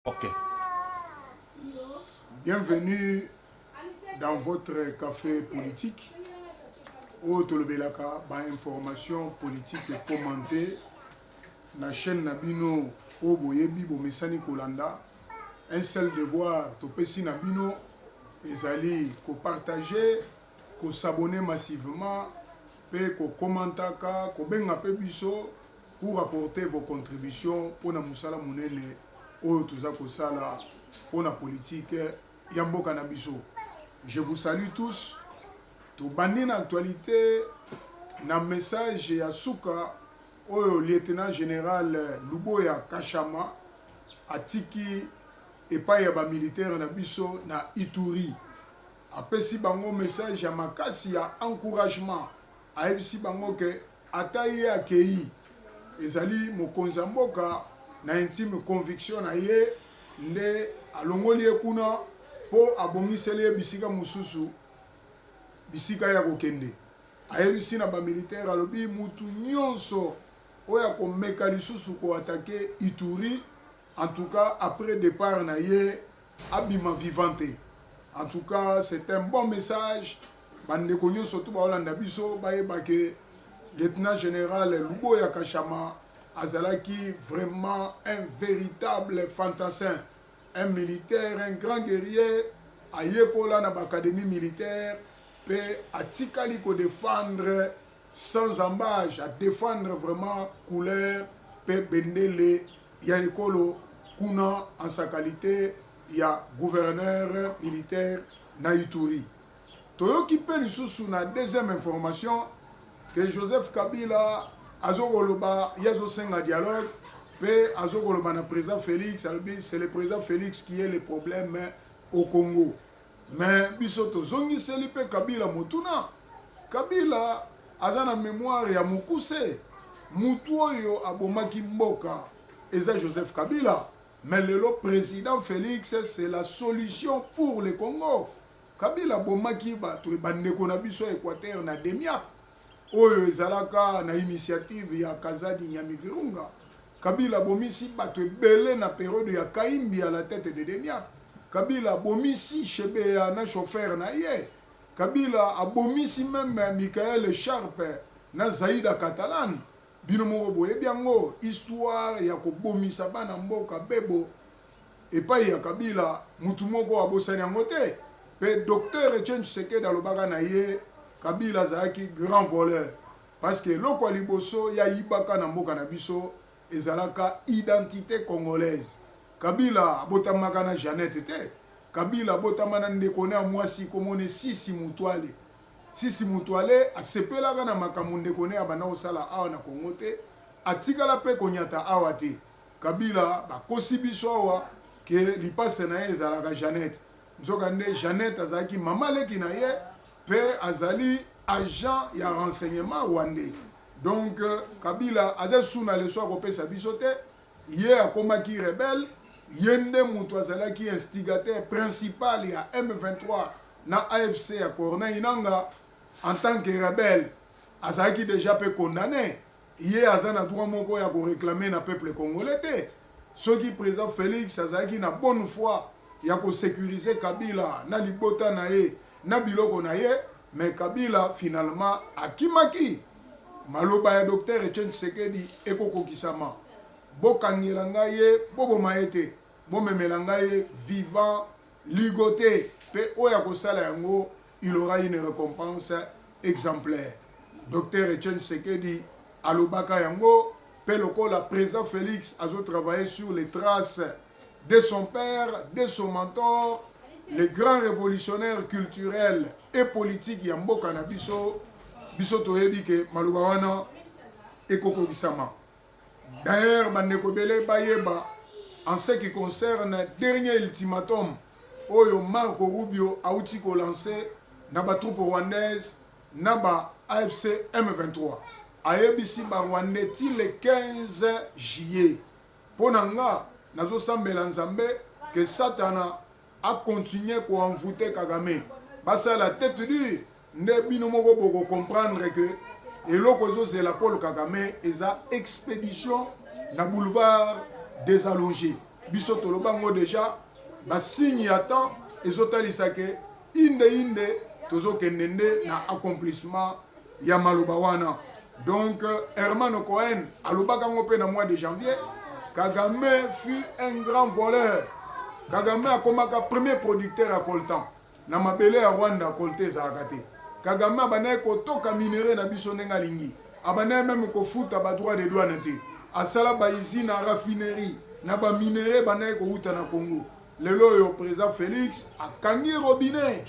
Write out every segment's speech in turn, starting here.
Ok. Bienvenue dans votre café politique. oyo tolobelaka bainformation politique commente na chaîne na bino oyo boyebi bomesani kolanda un seul devoir topesi na bino ezali kopartage kosabone massivement mpe kokomantaka kobenga mpe biso pour apporter vos contributions pona musala munene oyo toza kosala pona politique ya mboka na biso je vous salue tous tobandi na actualité na message ya suka oyo lieutenant général luboya kashama atiki epai ya bamilitaire na biso na ituri apesi bango message ya makasi ya encouragement ayebisi bango ke Ata ye akeyi, ezali mokonzi ya mboka na intime conviction na ye nde alongoli ye kuna mpo abongiseli ye bisika mosusu bisika ya kokende. Ayebisi na ba militaires alobi mutu nionso oyo akomeka lisusu ko attaquer Ituri en tout cas après depart na ye abima vivant te en tout cas c'est un bon message bandeko nyonso to baolanda biso bayeba ke lieutenant général luboya kashama azalaki vraiment un véritable fantassin un militaire un grand guerrier ayekola na baacadémie militaire mpe atikali kodefendre sans embage a defendre vraiment couleur pe bendele ya ekolo kuna en sa qualite ya gouverneur militaire na Ituri. Toyoki pe lisusu na deuxième information que Joseph Kabila azokoloba ye azosenga dialogue pe azokoloba na président Felix alobi c'est le président Felix qui est le problème au Congo. Mais biso tozongiseli pe Kabila motuna. Kabila aza na memoire ya mokuse. Mutu oyo abomaki mboka eza Joseph Kabila. Mais lelo president Felix c'est la solution pour le Congo. Kabila abomaki bato bandeko na biso ya Equateur na Demiap oyo ezalaka na initiative ya Kazadi Nyamivirunga. Kabila abomisi bato ebele na periode ya Kahimbi à la tete de Demiap. Kabila abomisi Shebeya na chauffeur na ye. Kabila abomisi meme Michael Sharpe na Zaida Catalan. Bino moko boyebi yango histoire ya kobomisa bana mboka bebo epai ya Kabila mutu moko abosani yango te. Pe Docteur Etienne Tshisekedi alobaka na ye Kabila azalaki grand voleur. Parce que eloko ya liboso ya yibaka na mboka na biso ezalaka identite congolaise. Kabila abotamaka na Jeannette te. Kabila abotama na ndeko na ya mwasi kombo ne Sisi Mutuale. Sisi Mutuale asepelaka na makambo ndeko ne abanda kosala awa na Congo te. Atikala pe konyata awa te. Kabila bakosi biso awa ke lipasa na ye ezalaka Jeannette. Nzoka nde Jeannette azalaki mama leki na ye Pe azali agent ya renseignement rwandais. Donc Kabila aza lisusu na leçon ya kopesa biso te. Ye akomaki rebelle, ye nde mutu azalaki instigateur principal ya M23 na AFC ya Corneille Nangaa en tant que rebelle. Azalaki dejà pe condamne. Ye aza na droit moko ya ko reclamer na peuple congolais te. Soki president Felix azalaki na bonne foi ya ko securiser Kabila na libota na ye na biloko na ye, mais Kabila finalement akimaki. Maloba ya Docteur Etienne Tshisekedi eko kokisama. Bokangela ngai ye, boboma ye te. Bomemela ngai ye vivant. Ligote pe oyo akosala yango il aura une recompense exemplaire. Docteur Etienne Tshisekedi alobaka yango pe lokola president Felix azo travailler sur les traces de son père, de son mentor, le grand révolutionnaire culturel et politique ya mboka na biso, biso toyebi ke maloba wana ekokokisama. D'ailleurs, bandeko ebele bayeba en ce qui concerne dernier ultimatum oyo Marco Rubio auti ko lancer na ba troupes rwandaises na ba AFC M23. Ayebisi ba Rwandais ti le 15 juillet. Mpo na nga nazosambela Nzambe que Satana a continuer ko envoute kagame basala tete dure nde bino moko boko comprendre que eloko ezozela paul kagame eza expédition na boulevard des allongés biso toloba yango déjà basigne ya temps ezotalisa ke inde inde tozokende nde na accomplissement ya maloba wana Donc Hermano Cohen alobaka ngo pe na mois de janvier Kagame fut un grand voleur. Kagame akomaka premier producteur ya coltan na mabele ya Rwanda colte ezalaka te. Kagame abandaki kotoka minerais na biso ndenge alingi. Abandaki meme kofuta ba droit de douane te. Asala ba usine na raffinerie na ba minerais bandaki kowuta na Congo. lelo oyo président félix akangi robinet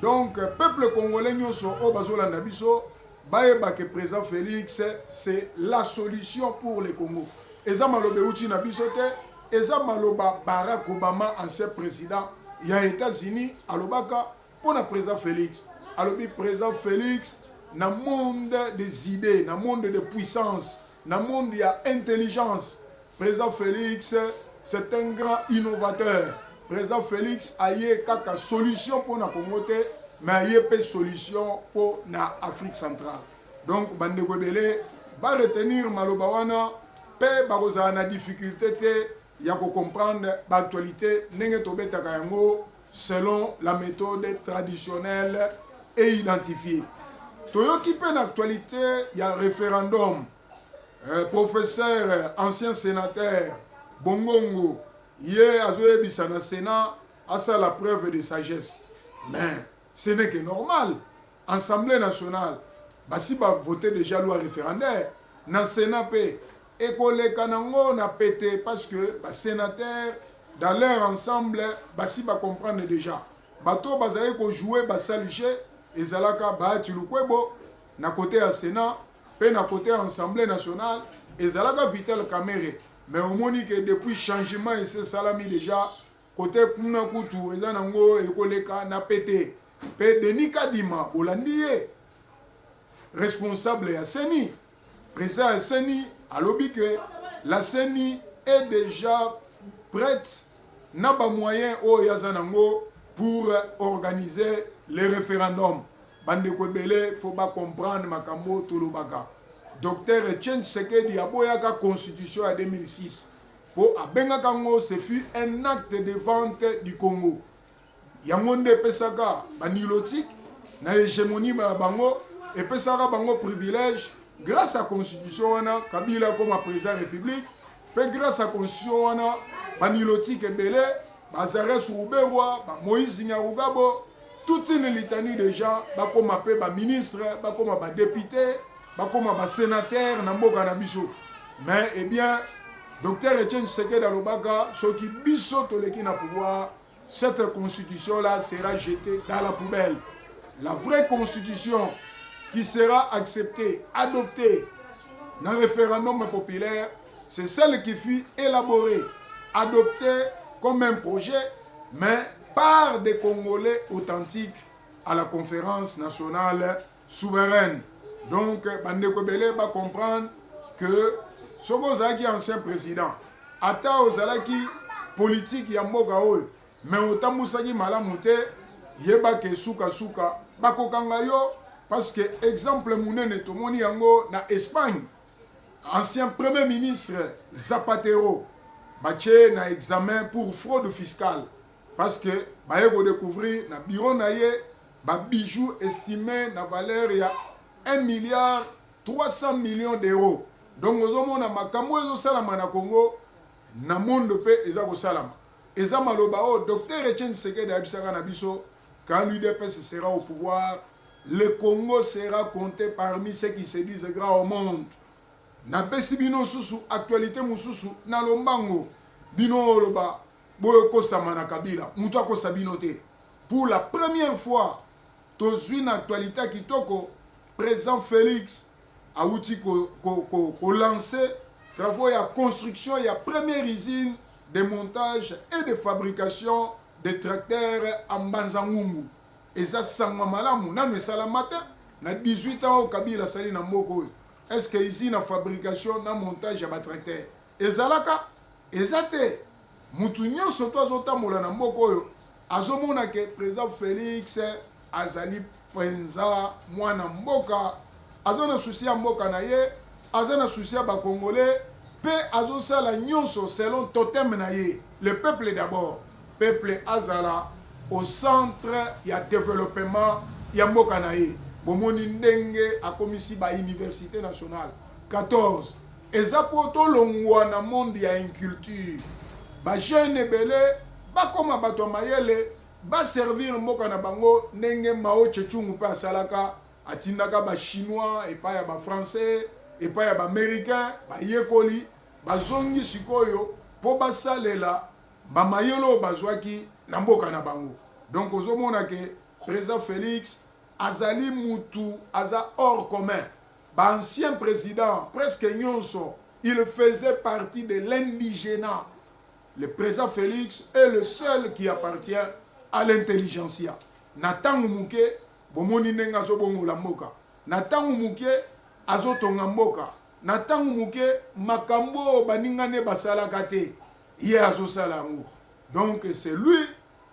donc peuple congolais nyonso oyo bazolanda biso Bayeba que president Felix c'est la solution pour le Congo. Eza maloba euti na biso te, eza maloba Barack Obama ancien president ya Etats-Unis alobaka mpo na president Felix. Alobi president Felix na monde des idées, na monde de puissance, na monde ya intelligence President Felix c'est un grand innovateur. President Felix aye kaka solution pona Congo te mais aye pe solution pona Afrique centrale. Donc bandeko ebele ba retenir maloba wana pe bakozala na difficulté te ya ko comprendre ba actualité ndenge tobetaka yango selon la méthode traditionnelle et identifiée. Toyoki pe na actualité ya référendum eh, professeur ancien sénateur bongongo ye azoyebisa na sénat asala preuve de sagesse mais ce n'est que normal assemblée nationale basi bavote déjà loi référendaire na sénat mpe ekoleka nango na pete parce que basénateur dans leur ensemble basi bacomprendre déjà bato oyo bazali kojoue basalige ezalaka baati lukwebo na kote ya sénat pe na cote ya ensemble nationale ezalaka vital kamere mais omoni ke depuis changement ese salami deja cote kuna kutu eza nango ekoleka na pete pe denis kadima bolandi ye responsable ya seni president ya seni alobi ke la seni est deja prête na bamoyen oyo aza nango pour organiser le référendum Bandeko ebele faut ba comprendre makambo oyo tolobaka. Docteur Etienne Tshisekedi aboyaka constitution ya 2006 mpo abengaka ngo ce fut un acte de vente du Congo. Yango nde epesaka ba nilotique na hegemonie ya bango, epesaka bango privilège grâce à constitution wana Kabila akoma président république mpe grâce à constitution wana ba nilotique ebele Bazares Ruberwa, ba Moïse Nyarugabo, toute une litanie de gens bakoma mpe baministre bakoma badepute bakoma basénateur na mboka na biso mais eh bien docteur etienne tshisekedi alobaka soki biso toleki na pouvoir cette constitution là sera jetée dans la poubelle la vraie constitution qui sera acceptée adoptée na référendum populaire C'est celle qui fut élaborée, adoptée comme un projet, mais par des Congolais authentiques à la conférence nationale souveraine. Donc, Bandeko Belé va comprendre que Sobo Zaki, ancien président, ata ozalaki politique ya mboka oyo mais otambusaki malamu te yeba ke suka suka bakokanga yo parce que exemple munene tomoni yango na Espagne Ancien premier ministre Zapatero batye na examen pour fraude fiscale parce que baye ko découvrir na bureau na ye ba bijoux estimé na valeur ya 1 milliard 300 millions d'euros donc ozomona makambo oyo ezosalama na congo na mondo mpe eza kosalama eza maloba oyo docteur etienne sekedi ayebisaka na biso Quand l'UDPS sera au pouvoir, le Congo sera compte parmi ceux qui se disent grands au monde. Napesi bino susu actualité mususu na lombango. Bino oloba boyo kosama na Kabila, mutu akosa bino te. Pour la première fois, tozui na actualité kitoko, président Félix awuti ko, ko, ko, ko lancer travaux ya construction ya première usine de montage et de fabrication de tracteur à Mbanza Ngungu eza sango malamu nanu esalama te na 18 ans oyo Kabila asali na mboka oyo est-ce que usine ya fabrication na montage ya batracteur Ezalaka eza te mutu nionso to azo tambola na mboka oyo azo mona ke president Felix azali penza mwana mboka aza na souci ya mboka na ye aza na souci ya ba congolais pe azo sala nionso selon totem na ye le peuple d'abord peuple azala au centre ya developpement ya mboka na ye bomoni ndenge akomisi ba universite nationale 14 eza po tolongwa na monde ya inculture ba jeune ebele bakoma bato ya mayele ba servir mboka na bango ndenge mao chechungu mpe asalaka atindaka ba chinois epai ya ba français epai ya ba américain bayekoli bazongi sikoyo mpo basalela bamayele oyo bazwaki na mboka na bango donc ozomona ke président félix azali mutu aza hors commun Ba anciens presidents presque nionso il faisait partie de l'indigena. Le president Felix est le seul qui appartient à l'intelligentsia. Na tango muke bomoni ndenge azo bongola mboka. Na tango muke azo tonga mboka. Na tango muke makambo baninga ne basalaka te ye azo sala yango. Donc c'est lui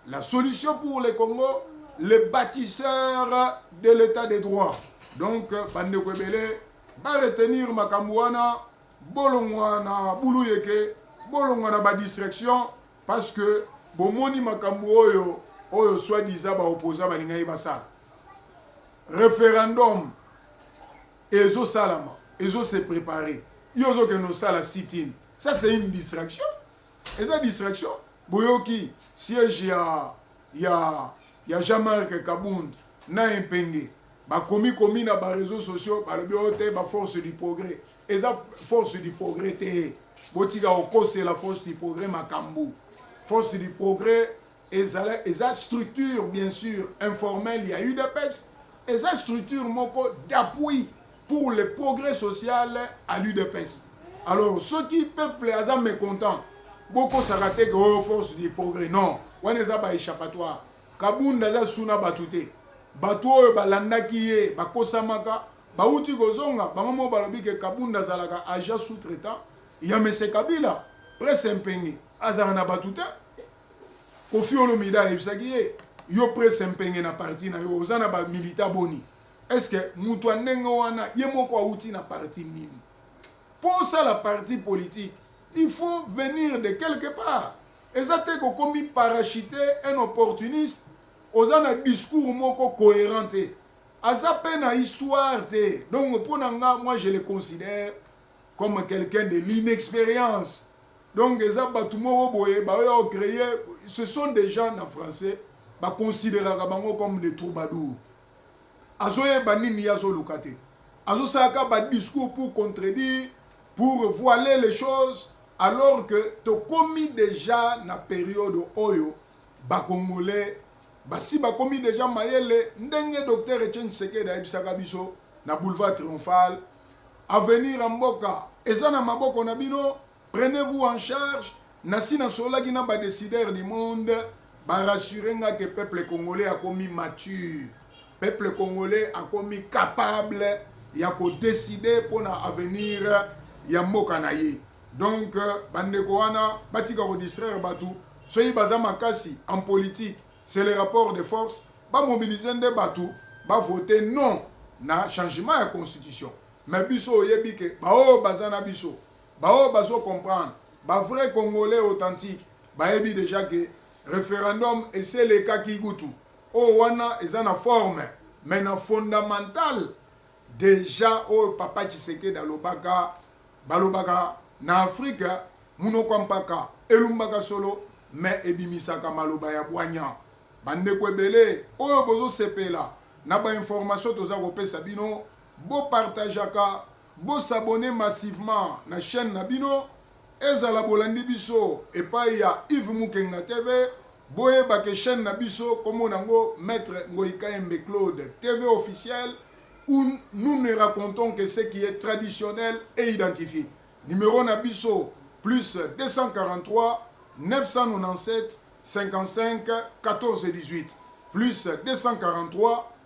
La solution pour le Congo, le bâtisseur de l'état de droit. Donc, bandeko ebele, ba retenir makambo wana, bolongwa na bulu yeke, bolongwa na ba distraction, parce que bomoni makambo oyo, oyo soit disant ba opposants balingaki basala. Referendum ezo salama, ezo se préparer. Yo ozokende osala sit-in. Ça c'est une distraction. eza distraction boyoki siège ya ya ya Jean-Marc Kabund na Empenge bakomi komi na ba réseaux sociaux balobi oyo oh, te ba force du progrès eza force du progrès te botika kokosela force du progrès makambo force du progrès ezala eza structure bien sûr informelle ya udps eza structure moko d'appui pour le progrès social à l'udps alors soki peuple aza mécontent bokosaka te ke oyo oh, force du progrès non wana eza ba échappatoire kabunda aza su na bato te bato oyo balandaki ye bakosamaka bauti kozonga bango moko balobi ke kabunda azalaka agent sous traitant ya mese kabila presse mpenge azalaka na bato te kofi olomida ayebisaki ye yo presse mpenge na parti na yo oza na bamilita boni est ce que moto ya ndenge wana ye moko awuti na parti nini mpo osala parti politique il faut venir de quelque part eza te kokomi parachute un opportuniste oza na discours moko cohérent te aza mpe na histoire te donc mpo na nga moi je le considère comme quelqu'un de l'inexpérience donc eza bato moko boye baoya ocreye ce sont des gens na français baconsideraka bango comme des troubadours azoyeba nini ye azoluka te azosala ka ba discours pour contredire pour voiler les choses alors que tokomi deja na periode oyo bakongolais basi bakomi deja mayele ndenge docteur etienne tshisekedi ayebisaka biso na boulevard triomphal avenir ya mboka eza na maboko na bino Prenez vous en charge, nasi na sololaki na ba decideurs du monde ba rassurer nga que peuple congolais akomi mature, peuple congolais akomi capable ya ko decider pona avenir ya mboka na ye. Donc euh, ba ndeko wana batika ko distraire batu, soki baza makasi en politique, c'est le rapport de force, ba mobiliser nde batu ba voter non na changement ya constitution. Mais biso oyebi que baoyo baza na biso Ba oyo bazo comprendre, ba vrais congolais authentique bayebi dejà que referendum esi elekaki kutu. Oyo wana eza na forme mais na fondamental dejà oyo papa Tshisekedi alobaka balobaka na Afrique munoko ya mpaka elumbaka solo mais ebimisaka maloba ya bwanya. Ba ndeko ebele oyo bozo sepela na ba informations toza kopesa bino bo partageaka Bo s'abonner massivement na chaine na bino ezala bolandi biso epayi ya Yves Mukenga TV boyeba ke chaine na biso kombo nango Maitre Ngoyi Kayembe Claude TV officiel ou nous ne racontons que ce qui est traditionnel et identifie numero na biso plus 243 997 55 14 18 plus 243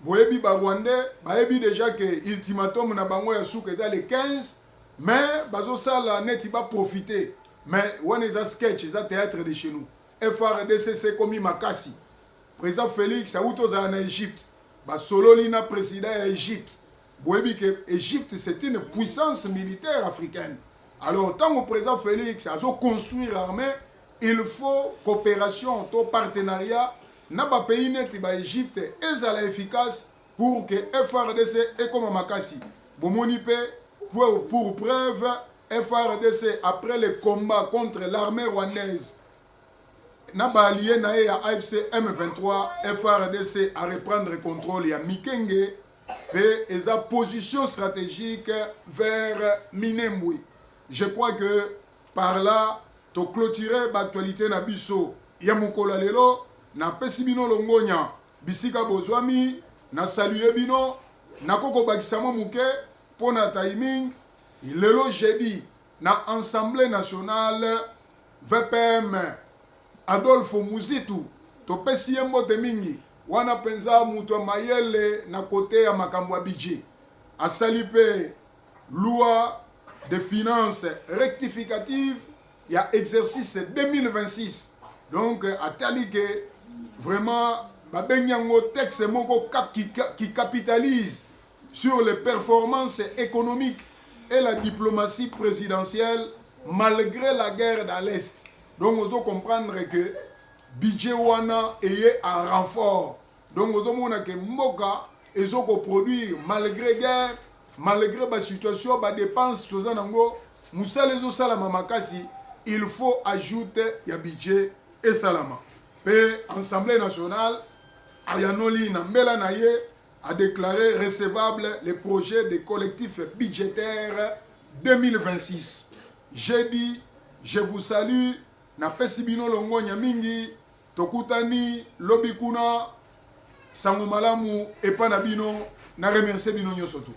Boyebi ba rwandais bayebi dejà que ultimatum na bango ya suka eza le 15 mais bazo sala neti ba profiter mais wana eza sketch eza theatre de chez nous FARDC ekomi makasi president Felix awuti ozala na Egypte basololi na president ya Egypte boyebi ke egypte c'est une puissance militaire africaine alors ntango président félix azoconstruire armée il faut coopération to partenariat na bapays neti baegypte ezala efficace pour ke frdc ekoma makasi bomoni mpe pour, pour preuve frdc après le combat contre l'armée rwandaise na baalie na ye ya afc m23 frdc a reprendre contrôle ya mikenge pe eza position strategique vers Minembwe. Je crois que par là to clôturer ba actualités na biso ya mokolo ya lelo. Napesi bino longonya bisika bozwami, na saluer bino, nako kobakisa mwa moke mpo na timing. Lelo jeudi na Assemblee nationale VPM Adolphe Muzitu topesi ye mbote mingi Wana penza mutu ya mayele na cote ya makambo ya budget. Asali pe loi de finances rectificative ya exercice 2026. Donc atali que vraiment ba bengi yango texte moko qui capitalise sur les performances economiques et la diplomatie presidentielle malgre la guerre dans l'est. Donc ozo comprendre que Budget wana eye en renfort donc ozo mona ke mboka ezo ko produire malgre guerre malgre ba situation ba depenses toza nango musala ezo salama makasi il faut ajoute ya budget esalama pe Assemblée nationale ayanoli na mbela na ye a déclaré recevable le projet de collectif budgétaire 2026. J'ai dit, je vous salue Napesi bino longonya mingi. Tokutani lobi kuna. Sango malamu epa na bino. Na remercier bino nyoso tout.